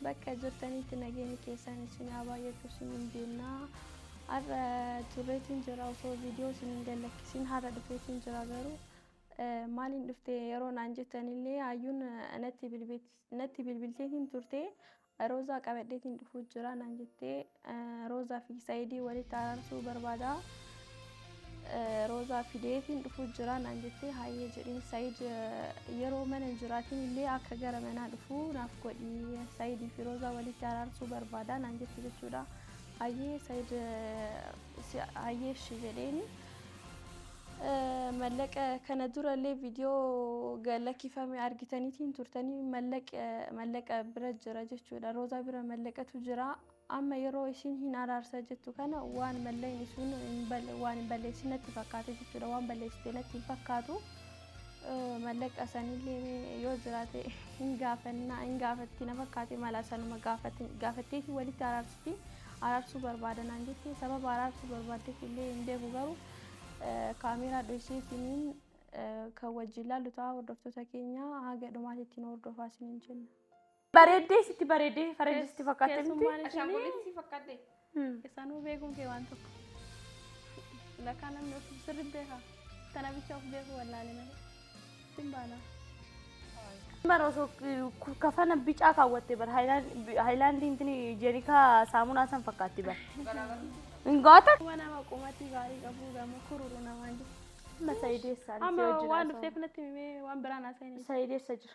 Bakka jirtanitti nageenyi keessan isin haa baay'atu isiniin jenna. Har'a turreetiin jira osoo viidiyoo isin hin gallakkisin har'a dhufeetiin jira garuu eh, maaliin dhufte yeroo naan jettanillee hayyuun eh, natti bilbil- natti bilbilteetiin turte roozaa qabadheetiin dhufuu jira naan jettee Roozaa fi Saayidii walitti araarsuu barbaada. Roozaa fideetiin dhufuu jira naan jettee hayyee jedheen Saayid yeroo mana hin jiraatin illee akka gara manaa dhufu naaf godhi Saayidii fi Roozaa walitti araarsuu barbaada naan jette jechuudha. Hayyee Saayid hayyee ishee jedheeni. Mallaqa kana dura illee video ga lakifame argitanitii hin turtanii mallaqa mallaqa bira jira jechuudha roozaa bira mallaqatu jira amma yeroo ishiin hin araarsa jettu kana waan malleen ishiin hin bal- waan hin balleessin natti fakkaate jechuudha waan balleessite natti hin fakkaatu Eh, mallaqa sanillee mee yoo jiraate hin gaafanna hin gaafatti na fakkaate mala sanuma gaafatti gaafatteeti walitti araarsiti araarsuu barbaadanaan jetti sababa araarsuu barbaaddeef illee hin beeku garuu Kaameeraa dhoysee isiniin kan wajjin laallu ta'a hordoftoota keenya haga dhumaatti ittiin hordofaa isiniin jenna. Bareeddee sitti bareeddee faranjii sitti fakkaatte miti. Keessummaan isinii Ashaangullitti si fakkaadde. isaanuu beekuun kee waan tokko. Lakkaa namni of sirri beeka. Tana bicha of beeku wallaalee malee. Bara osoo kafana bicaa kaawwatte bara haayilaandii intini jeerikaa saamunaa san fakkaatti bara. Hin goota. Kuma nama qumatii gaarii qabu gama kururu namaan jiru. Amma sayideessaan Amma waan dhufteef natti himee waan biraan haasa'in. Sayideessa jira.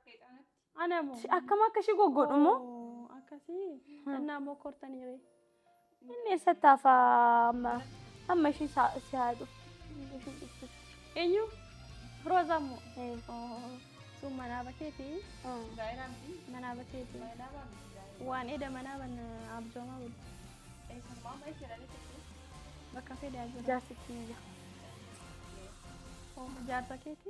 Ana moo? Shi- Akkam akka ishii goggodhu immoo Oo, Akkasii. Annaa moo kortanii ree. inni eessatti hafa amma amma ishii saa- si haa dhufu. Ishii dhuftu. Eenyu? Roozaa moo? Eh, Oo. Sun manaa bakeeti. ah. Manaa bakeeti. Waan eda manaa banna abjoomaa bulu. Bakka fedhaa jira. Jaarsitti ni jira. Oo, Jaarsa keeti.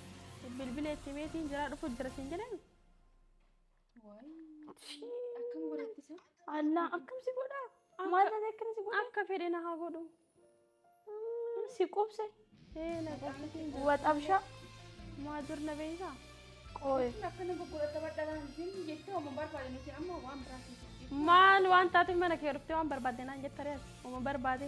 Bilbila itti meetiin jira dhufu jira siin jedhan. Akkam godhatti san? Allaa akkam si godhaa? Maal taate akkana si godhaa? Akka fedhe na haa godhu. Si qubse. Ee na qofsitiin jira. Waxabshaa. Maa dur na beeysaa? Qooye. Akkana gurguratta badhalaan sin jettee waan barbaade nuti amma waan biraatiif. Maal waan taateef mana kee dhuftee waan barbaadde naan jetta rees. Uma barbaade.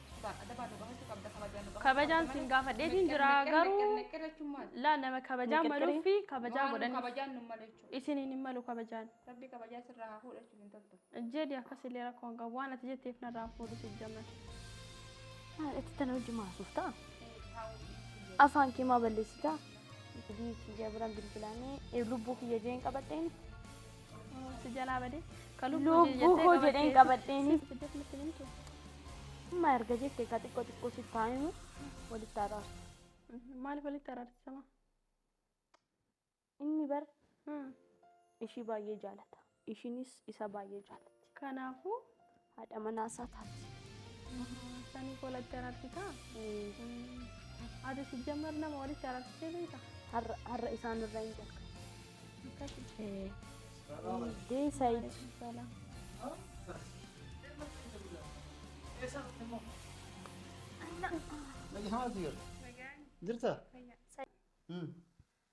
Kabajaan sin gaafadheetiin jira garuu laa nama kabajaa Miqirqirii. maluu fi kabajaa godhanii kabajaan nu malee jechuudha. isiniin hin malu kabajaan. Rabbi kabajaa sirraa haa fuudhu jechuun hin toltu. Jedhi akkas illee rakkoo hin qabu waan ati jetteef narraa fuudhu si jaman. Itti tana hojii maasuuf ta'a. Afaan kee maa balleessitaa? Bilii kiyya biraan bilbilaanee lubbuu kiyya jeen qabadheen Si jalaa badee. Ka lubbuu Lubbuu jettee koo jedheen qabattee- qabadheeni. Sitti fiddeef natti himtu. Amma erga jette ka xiqqoo xiqqoo si taa'imu walitti araarsa. Maaliif walitti araarsisama? Inni bar Hmm. ishii baay'ee jaalata. Ishiinis isa baay'ee jaalatti. Kanaafuu haadha manaa isaa taasisa. Saniif wal itti araarsitaa? Ati sijjammar nama walitti araarsitee beekta? Har'a har'a isaan irraa hin jalqabu. Akkasi. Eh, Hundee Said. Salaam. Nagaan jirta?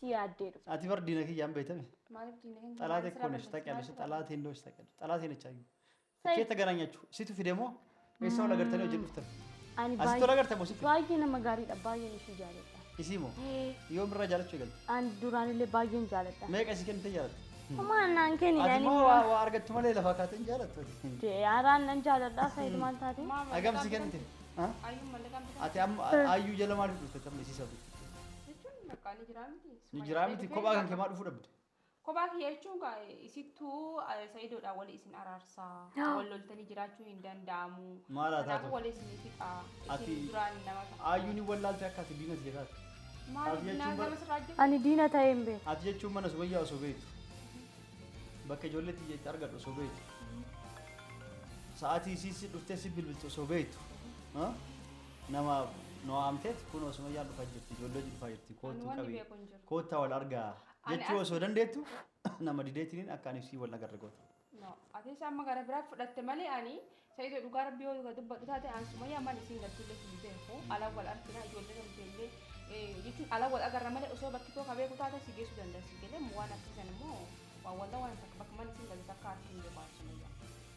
si yaaddee dhufte. Ati bar diina kiyya hin beeytami. Maaliif diina hin Xalaate koo nesh taqiyalsh xalaate hin doosh taqiyalsh xalaate hin ichaayu. Said. Keetta garaa nyaachu situ fide moo eessa wal agartanii hojii dhuftan. Ani Asitti wal agartan moo sitti? baay'ee nama gaariidha baay'een ishii jaaladha. Isii moo yoom irraa jaalachuu eegalte? Ani duraan illee baay'een jaaladha. Meeqa isii kennite jaalata? Homaa naan kenni Ati ani moo waa waa argattu malee lafaa kaatee hin jaalattu ati. Jaaraan nan jaaladha Said maal taate? Agam si kennite? Ha? Ayyuun mallaqaan bitaa. Ati amma ayyuu jala maaliif dhufte tamma isii sabii? jechuun bakka ni jiraa miti. Ni jiraa miti kophaa kan kemaa dhufuu dhabde. Kophaa kiyya jechuun gaa isittuu sayidoodhaan wali isin araarsaa. Wal loltanii jiraachuun hin danda'amu. Maal haa taatu? Kanaafuu wali isin fixa. Ati Isin duraan nama ta'a. aayyuu ni wallaalte akka ati diina tiyya taate. Maal Ati jechuun dinaa bara- nama sirraa hojjetu? Ani diina ta'ee hin beeku. Ati jechuun mana subayyaa osoo beektu. Bakka ijoollee tiyya itti argadhu osoo beektu. Sa'aatii isii si dhuftee si bilbiltu osoo beektu. Ha? Nama nu waamteet kunoo Sumayyaan dhufaa jirti, ijoollee hojii dhufaa jirti, Ani koottuu wanni qabii, beeku hin jiru. koottaa wal argaa Ani jechuu as- osoo dandeettu nama dideetiniin akka ani sii wal nagarre goota. No. Atis amma gara biraa fudhatte malee ani Sa'iidoo dhugaa rabbii yoo dhugaa dubbadhu taate ani Sumayyaa mana isiin galchullee hin beeku. Ala wal argina ijoollee namteellee eh, jechuun ala wal agarra malee osoo bakki too ka beeku taate si geessuu danda'a si galee waan akkasisan immoo waan waldaa waan takka bakka mana isiin galtu takka harki hin beeku ani Sumayyaa.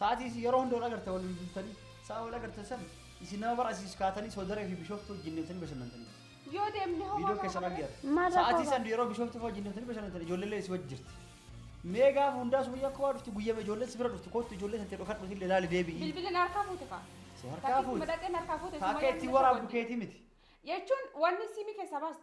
Sa'atii isin yeroo hunda wal agartan waliin bultanii sa'a wal agartan san isin nama bara asiis kaatanii soodaree fi bishooftuu wajjin deemtanii bashannantanii. Yoo deemne hoo Viidiyoo keessan argeera. Maal rakkoo Sa'atii qaba? san yeroo bishooftuu fa'aa wajjin deemtanii bashannantan ijoolleellee si wajji jirti. Mee gaafa hundaa sumayyaa kowaa dhufti guyyama ijoolleen si bira dhuftu koottu ijoollee tantee dhokadhuuti illee laali deebi'i. Bilbila na harkaa fuute kaa. Si harkaa Takkituma fuute. dhaqee na harkaa fuute Taakka Sumayyaan ittiin ni waraabdu soba keetii miti. Jechuun wanni siimii keessaa baaste.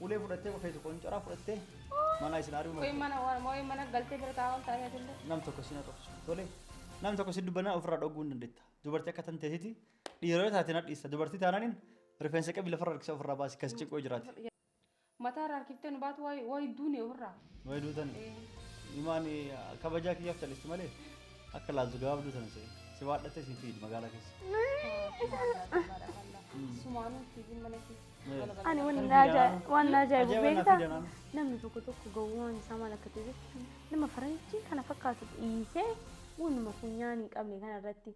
Ulee fudhattee qofeetu qoncoraa fudhattee manaa isin ari'uu Moo'ee mana moo'ee mana galtee bira taa'aa ol taa'ee atillee. nam tokko si na dhoksu tole nam tokko si dubbanaa ofirraa dhogguu hin dandeetta dubartii akka tan teetiti dhiira yoo taate na dhiista dubartii taanaanin rifeensa qabi lafarra harkisa ofirraa baasi kas ciqoo jiraate. Mataa irraa harkiftee nu baatu waa hedduun ofirraa. Way duutani. Imaan kabajaa kiyyaaf callisti malee akka laaltu gabaabduu sana se'e. Si waadhattee siin fiidi magaalaa keessa. Sumaanuu fiigin mana keessa. Ani waan na ajaa- waan na ajaa'ibu Ajaa'iba naaf beektaa? fidanaan. Namni tokko tokko gowwaan isaa maal akka ta'e beektu nama faranjii kana fakkaatu dhiisee waanuma funyaan hin qabne kana irratti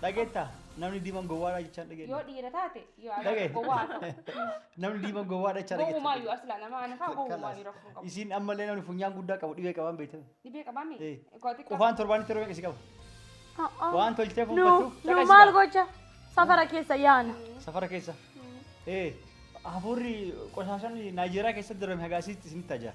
Dhageetta namni diiman gowwaadha jechaan yoo dhageenya. dhiira taate yoo Dhage. argaa gowwaa haa ta'u. Namni diiman gowwaadha jechaa dhageetta. Gowwumaayyuu asila nama ana fa'aa gowwumaayyuu rakkoo hin qabu. Isiin ammallee namni funyaan guddaa qabu dhibee qabaan beektan. Dhibee qabaa mee? Eh. Koo xiqqaa. Qufaan torbaanitti yeroo meeqa si qaba? Waan Waan tolchitee nu fuunfattuuf nu caqasi maal ba'a. gocha safara keessa yaana. Safara keessa. Ee hafuurri qosaashaan Naayijeeriyaa keessatti darame hagaasiitti isinitti ajaa.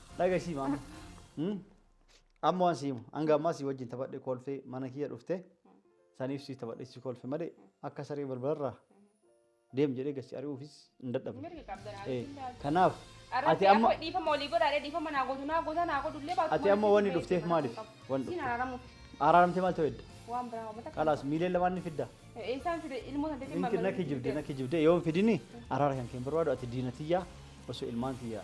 Dhagesii maama. Hmm? Amma waan siimu hanga ammaa sii wajjin taphadhe kolfee mana kiyya dhufte saniif sii taphadhe sii kolfe malee akka saree balbalarraa deem jedhee gassi ari'uufis hin dadhabne. Mirga qabdan Eh, anis hin taatu. Kanaaf ati Arratti amma amma dhiifama olii godhaadhe dhiifama naa gootu naa gootaa naa godhu illee baatu. Ati amma wanni dhufteef maaliif? Wanni Siin dhufteef. araaramuuf araaramtee maal ta'u edda? waan biraa hawwata. Qalaas miileen lamaan ni fidda. Eessaan fide ilmoo san teetiin Ninki na kijibde na kijibde yoo hin fidini araara kan keen barbaadu ati diina tiyyaa osoo ilmaan tiyyaa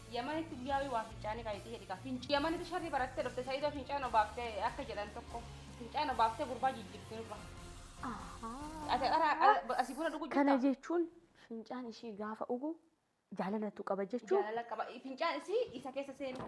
Yamanitti guyyaawii waa fincaanii kan itti hidhika. Finci Yamanitti sharri barattee dhufte Sa'iidoo fincaan obaaftee akka jedhan tokko fincaan obaaftee gurbaa jijjirti nurra. Ati qaraa qara- asii buna dhuguu Kana jirta. jechuun fincaan ishii gaafa ugu jaalalatu qaba jechuun Jaalala qaba. Fincaan isii isa keessa seenu.